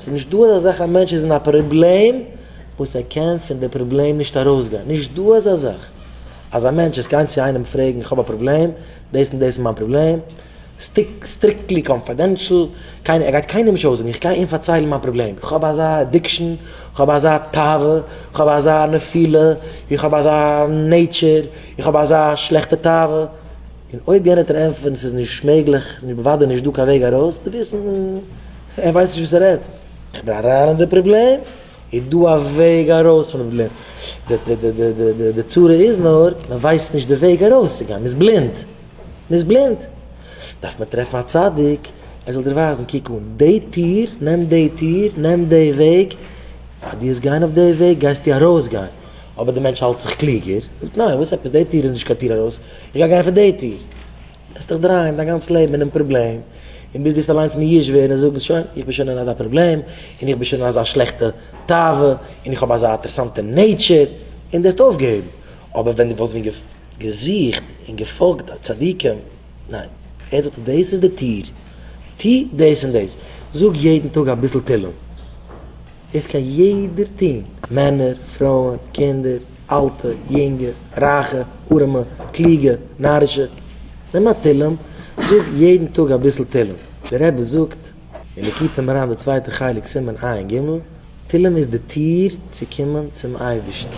ס'איז נישט דא אז אזעלכע א מענטש איז אין א פראבלעם וואס ער קען פון די פראבלעם נישט ארויסגיין, נישט דא אזא זאך אז א מענטש איז גיין צו איינעם פרעגן איך האב א פראבלעם, דאס און דאס איז מיין פראבלעם, סטריקטלי קאנפידענשל, קיינער, ער גייט קיינעם נישט אויסזאגן, איך גיי אים פארציילן מיין פראבלעם, איך האב אזא עדיקשן, איך האב אזא תאווה, איך האב אזא נפילה, איך האב אזא נעיטשער, איך האב אזא שלעכטע תאווה, און אויב יענער וועט אים ענטפערן ס'איז נישט מעגליך, ס'איז בוודאי נישט דא קיין וועג ארויס, דו וועסט. ער ווייסט נישט וואס ער רעדט. איך בין אריין אין די פראבלעם, איז דא א וועג ארויס פון די פראבלעם? די צרה איז נאר מען ווייסט נישט די וועג ארויסצוגיין, מען איז בלינד, מען איז בלינד, דארף מען טרעפן א צדיק ער זאל דיר ווייזן, קוק אן די טיר, נעם די טיר, נעם די וועג, פאר דו וועסט גיין אויף די וועג גייסטו ארויסגיין, אבער די מענטש האלט זיך קלוגער, זאגט ניין, וואס עפעס, די טיר איז נישט קיין טיר ארויס, איך גיי גיין פון די טיר. וועסט דיך דרייען דיין גאנץ לעבן אינעם פראבלעם, און ביז דוסט אליינס מיאוש ווערן און זאגן, שוין, איך בין שוין אין אזא פראבלעם, און איך בין שוין אין אזא שלעכטע תאווה, און איך האב אזא אטערסאנטע נעיטשער, און דו העסט אויפגעהויבן. אבער ווען דו וואלסט ווען געזוכט און געפאלגט א צדיקים, ניין, ער זאגט דאס איז די טיר, טו דאס און דאס, זאג יעדן טאג אביסל תהלים, דאס קען יעדער טון, מענער, פרויען, קינדער, אלטע, יונגע, רייכע, ארעמע, קלוגע, נארישע. נעם א תהלים, זאג יעדן טאג אביסל תהלים. דער רבי זאגט אין ליקוטי מוהרן די צווייטע חלק סימן עיין ג, תהלים איז די טיר צו קומען צום אייבערשטן.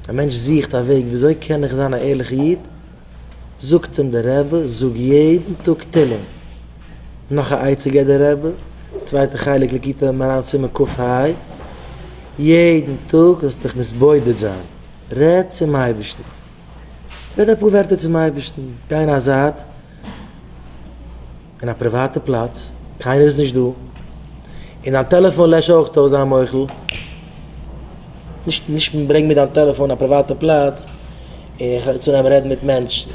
א מענטש זוכט א וועג וויאזוי קען איך זיין א ערליכע איד? זאגט אים דער רבי, זאג יעדן טאג תהלים. נאך א עצה געבט דער רבי, די צווייטע חלק לקוטי מוהרן סימן קכ ה, יעדן טאג זאלסטו דיך מתבודד זיין, רעד צום אייבערשטן, רעד אפאר ווערטער צום אייבערשטן, גיי אין א זייט, אין א פריוואטע פלאץ, קיינער איז נישט דא, און דיין טעלעפאן לעש אויך אויס, זיי מוחל, נישט נישט ברענג מיר דיין טעלעפאן אין א פריוואטע פלאץ, און איך הער צו נעמען רעדן מיט מענטשן,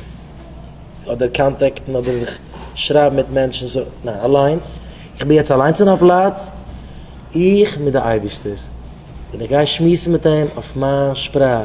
אדער קאנטעקטן אדער זיך שרייבן מיט מענטשן, סא ניין, אליינס, איך בין יעצט אליינס אין א פלאץ, איך מיט די אייבערשטער, און איך גיי שמועסן מיט אים אויף מיין שפראך.